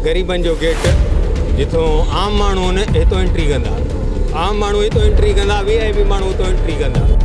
غريبن جو گيٽ جتھو عام ماڻھو نه هتو انٽري ڪندا عام ماڻھو هتو انٽري ڪندا وي آء پي ماڻھو هتو انٽري ڪندا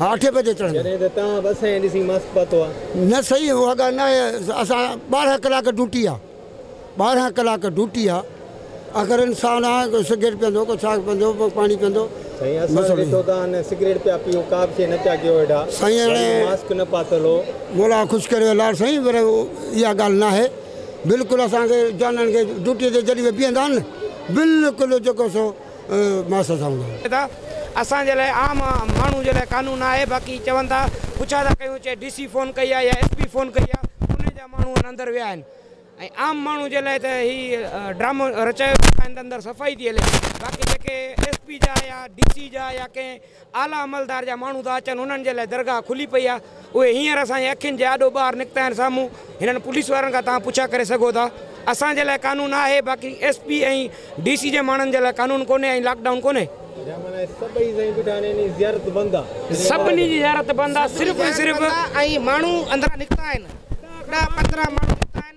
آٺين بجي چڙهندا. نه سائين اها ڳالهه ناهي اسان ٻارهن ڪلاڪ ڊيوٽي آ ٻارهن ڪلاڪ ڊيوٽي آ اگر انسان آ ڪو سگريٽ پيئندو ڪو ڇا پيئندو ڪو پاڻي پيئندو سائين هاڻي مولا خوش ڪريو الاڙ سائين پر اها ڳالهه ناهي بلڪل اسان کي جانڻ کي ڊيوٽي تي جڏهن به بيهندا آهن نه بلڪل جيڪو سو ماس سان هوندا آهن. اسان جي لاء عام ماڻهو جي لاء قانون نه آهي باقي چون ٿا پڇا ٿا ڪيون چي ڊي سي فون ڪئي آهي يا ايس پي فون ڪئي آهي پوني جا ماڻهو ان اندر ويا آهن ۽ عام ماڻهو جي لاء ته هي ڊرامو رچايو ويو آهي اندر اندر صفائي ٿي هلي باقي جيڪي ايس پي جا يا ڊي سي جا يا ڪنهن اعليٰ عملدار جا ماڻهو ٿا اچن، انهن جي لاء درگاهه کلي پئي آهي، اهي هينئر اسان جي اکين جي آڏو ٻاهر نڪتا آهن سامهون، هنن پوليس وارن کان توهان پڇا ڪري سگهو ٿا، اسان جي لاء قانون آهي، باقي ايس پي ۽ ڊي سي جي ماڻهن جي لاء قانون ڪونهي ۽ لاڪ ڊائون ڪونهي. سڀني جي زيارت بند آهي، صرف ۽ صرف. ۽ ماڻهو اندران نڪتا آهن، ڏهه پندرهن ماڻهو نڪتا آهن.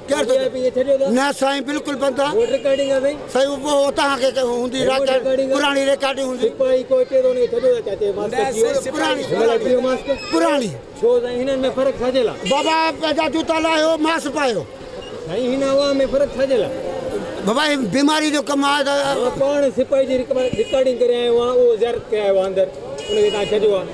نه سائين بلڪل بند آ سائين اهو توهان کي هوندي پراڻي ريڪارڊنگ هوندي پراڻي بابا پنهنجا جوتا لاهيو ماسڪ پايو بابا هي بيماري جو ڪم آ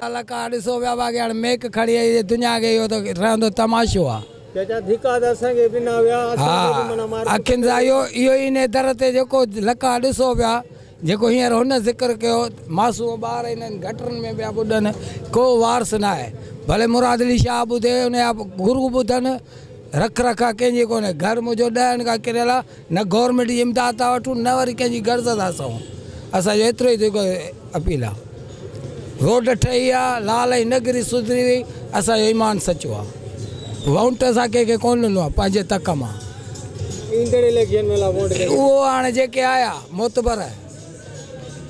ڪلاڪار ڏسو ويا واگياڻ ميڪ کڙي اي جي دنيا کي اهو ته رهندو تماشو آ. چاچا ڌڪا ته اسان کي به نه ويا اسان کي به منا مارڪٽ اکين سان اهو اهو ئي انهي در تي جيڪو لڪا ڏسو ويا جيڪو هينئر هن ذڪر ڪيو معصوم ٻار انهن گٽرن ۾ پيا ٻڏن ڪو وارث ناهي ڀلي مراد علي شاهه ٻڌي انهي جا گرو ٻڌن رک رکا ڪنهن جي ڪونهي گهر منهنجو ڏهن کان ڪريل آ نه گورنمينٽ جي امداد ٿا وٺون نه وري ڪنهن جي غرض ٿا سهون اسان جو ايترو ئي جيڪو اپيل آ روڊ ٺهي آ لال ۽ نگري سڌري وئي اسان جو ايمان سچو آ وونٽ اسان ڪنهن کي ڪون ڏنو آ پنهنجي تڪ مان ايندڙ اليڪشن ۾ لا وونٽ اهو هاڻي جيڪي آيا معتبر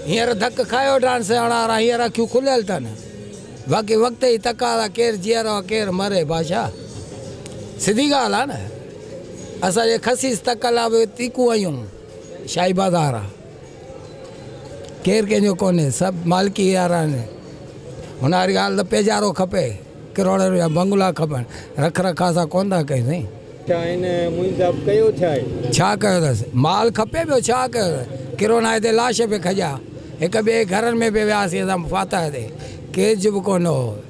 هينئر ڌڪ کايو وٺان سياڻا وارا هينئر اکيون کليل تن باقي وقت جي تقاضا ڪير جيئرو آ ڪير مري بادشاهه سڌي ڳالهه آ نه اسان جي خسيس تقلا به تيکون آهيون، شاهي بازار آ، ڪير ڪنهن جو ڪونهي، سڀ مالڪي يار آهن، هن واري ڳالهه ته پيجارو کپي، ڪروڙين جا بنگلا کپن، رک رکاء اسان ڪونه ٿا ڪيون سائين. ڇا هن معين صاحب ڪيو ڇا آهي؟ ڇا ڪيو اٿس؟ مال کپي ٻيو ڇا ڪيو اٿس؟ ڪرونا هتي لاش پئي کڄيا، هڪ ٻئي جي گهرن ۾ پئي وياسين اسان فاتح تي، ڪير چپ ڪونه هو.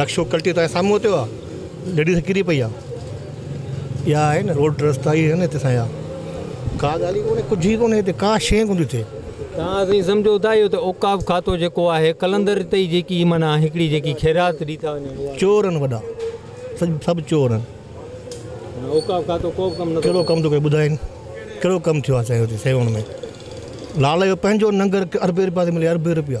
رڪشو ڪلٽي تان سامهون اتيو آ ليڊيز ڪري پئي آ اها آهي نه روڊ رستا اهي آهن هتي اسان جا ڪا ڳالهه ئي ڪونهي ڪجهه ئي ڪونهي هتي ڪا شيء ڪونه ٿي ٿئي. تان اسين سمجهو ٿا اهو ته اوقاف کاتو جيڪو آهي قلندر اتي ئي جيڪي معنيٰ هڪڙي جيڪي خيرات ڏي ٿا وڃن اها چور آهن وڏا سڀ چور آهن. معنيٰ اوقاف کاتو ڪو به ڪم نٿو ڪهڙو ڪم ٿو ڪري ٻڌائين ڪهڙو ڪم ٿيو آ سائين هتي سيوهڻ ۾ لال جو پنهنجو ننگر اربين رپيا ٿي ملي اربين رپيا.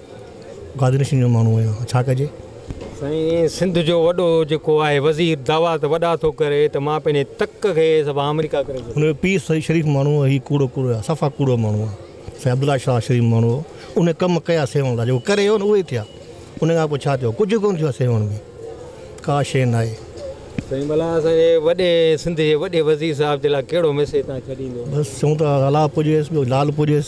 گادرشن جو ماڻهو آهيان ها ڇا ڪجي. سائين سنڌ جو وڏو جيڪو آهي وزير دعويٰ ته وڏا ٿو ڪري ته مان پنهنجي تڪ کي سبا آمريڪا ڪري ڇڏيندس. هن جو پيء سائين شريف ماڻهو هو هي ڪوڙو ڪوڙو آهي صفا ڪوڙو ماڻهو آهي سائين عبدالله شاهه شريف ماڻهو هو ان ڪم ڪيا سيوهڻ لاء جيڪو ڪري ويو نه اهي ٿيا ان کان پوء ڇا ٿيو ڪجهه ڪونه ٿيو آهي سيوهڻ ۾ ڪا شيء ناهي. سائين ڀلا اسان جي وڏي سنڌ جي وڏي وزير صاحب جي لاء ڪهڙو ميسيج توهان ڇڏيندو. بس چئون ٿا الله پوڄيس ٻيو لال پوڄيس.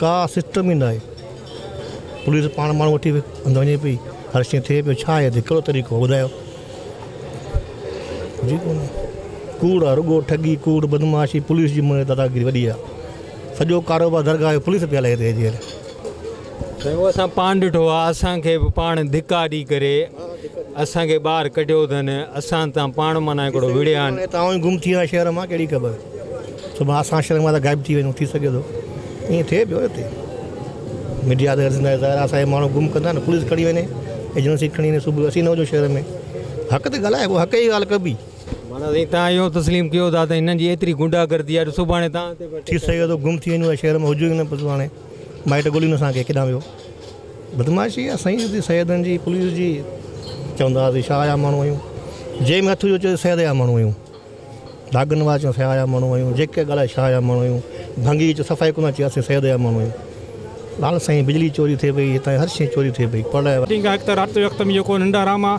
ڪا سسٽم ئي ناهي پوليس پاڻ ماڻهو وٺي اندر وڃي پئي هر شيء ٿئي پيو ڇا هي ڪهڙو طريقو آهي ٻڌايو جي ڪونه ڪوڙ آهي رڳو ٺڳي ڪوڙ بدمعاشي پوليس جي مون داداگيري وڏي آهي سڄو ڪاروبار درگاهه جو پوليس پئي هلائي هتي جيل سائين اهو اسان پاڻ ڏٺو آهي اسان کي به پاڻ ڌڪا ڏئي ڪري اسان کي ٻاهر ڪڍيو اٿن اسان تان پاڻ معنيٰ هڪڙو وڙهيا آهن هتان ئي گم ٿي ويا شهر مان ڪهڙي خبر صبح اسان شھر مان ته غائب ٿي وڃون ٿي سگهي ٿو ائين ٿئي پيو اتي ميڊيا ته زندهه ظاهر اسان جا ماڻهو گم ڪندا نه پوليس کڻي وڃي ايجنسي کڻي وڃي صبح اسين نه هجون شهر ۾ حق تي ڳالهائي بو حق جي ڳالهه ڪبي. مانا سائين توهان اهو تسليم ڪيو ٿا ته هنن جي ايتري غنڊا گردي آهي جو سڀاڻي توهان تي به اٽيڪ ٿي ڪري سگهي ٿو گم ٿي وڃون ۽ شهر ۾ هجون ئي نه پوء تون هاڻي مائٽ ڳولين اسان کي ڪيڏانهن ويو بدمعاشي آهي سائين هتي سيدن جي پوليس جي چوندا هئاسين شاهه جا ماڻهو آهيون جنهن ۾ هٿ وجهيو چئي سيد جا ماڻهو آهيون. ڀاڳن واچيون سياح جا ماڻهو آهيون جيڪي ڳالهائي شاهه جا ماڻهو آهيون ڀنگي وچ صفائي ڪونه اچي اسين سيد جا ماڻهو آهيون لال سائين بجلي چوري ٿئي پئي هتان هر شئي چوري ٿئي پئي پر ڏينهن کان هڪ ته رات جو وقت ۾ جيڪو ننڊ آرام آ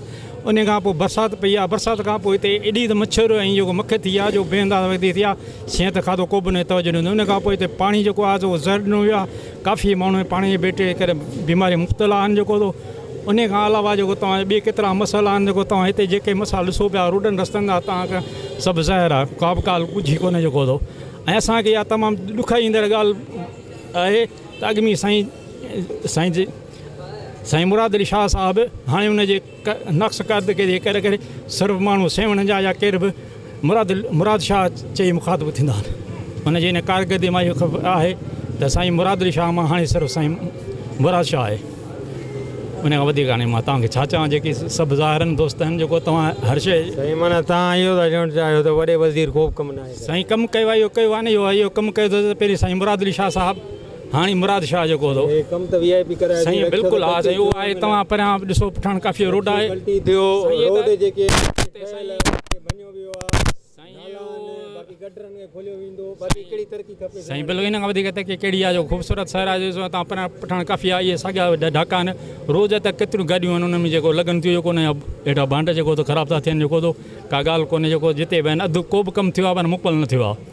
انهي کان پوء برسات پئي آ برسات کان پوء هتي ايڏي ته مڇر ۽ جيڪو مک ٿي آ جو بي انداز وڌي ٿي آ شين ته کاڌو ڪوبه نه توجه نه انهي کان پوء هتي پاڻي جيڪو آ سو زهر ڏنو ويو آ ڪافي ماڻهو پاڻي جي بيٽري ڪري بيماري مبتلا آهن جيڪو انهي کان علاوه جيڪو توهان جا ٻي ڪيترا مسئلا آهن جيڪو توهان هتي جيڪي مسئلا ڏسو پيا روڊن رستن جا توهان کي سڀ ظاهر آهي ڪا به ڳالهه ڳجهي ڪونهي جيڪو ٿو ۽ اسان کي اها تمام ڏکائي ايندڙ ڳالهه آهي ته اڳ ۾ سائين سائين جي سائين مراد علي شاهه صاحب هاڻي ان جي نقص قد ڪري ڪري صرف ماڻهو سيوهڻ جا يا ڪير به مراد مراد شاهه چئي مخاطب ٿيندا آهن. ان جي ان ڪارڪردي مان اهو خبر آهي ته سائين مراد علي شاهه مان هاڻي صرف سائين مراد شاهه آهي. ان کان وڌيڪ هاڻي مان توهان کي ڇا چوان جيڪي سڀ ظاهرن دوست آهن جيڪو توهان هر شيء. سائين معنيٰ توهان اهو ٿا چوڻ چاهيو ته وڏي وزير ڪوبه ڪم ناهي ڪيو. سائين ڪم ڪيو آهي اهو ڪيو آهي نه اهو ڪم ڪيو ته پهرين سائين مراد علي شاهه صاحب. هاڻي مراد شاهه جيڪو هوندو سائين بلڪل ها سائين اهو آهي توهان پريان به ڏسو پٺاڻ ڪافي روڊ آهي اهو سائين بلڪل ان کان وڌيڪ ترقي ڪهڙي آهي جو خوبصورت شهر آهي ڏسو توهان پريان پٺاڻ ڪافي آهي اهي ساڳيا ڍاڪا آهن روز هتي ڪيتريون گاڏيون آهن انهن ۾ جيڪو لڳن ٿيون جيڪو نه هيٺان ڀانڊا جيڪو خراب ٿا ٿين جيڪو ڪا ڳالهه ڪونهي جيڪو جتي به آهن اڌ ڪو به ڪم ٿيو آهي پر مڪمل نه ٿيو آهي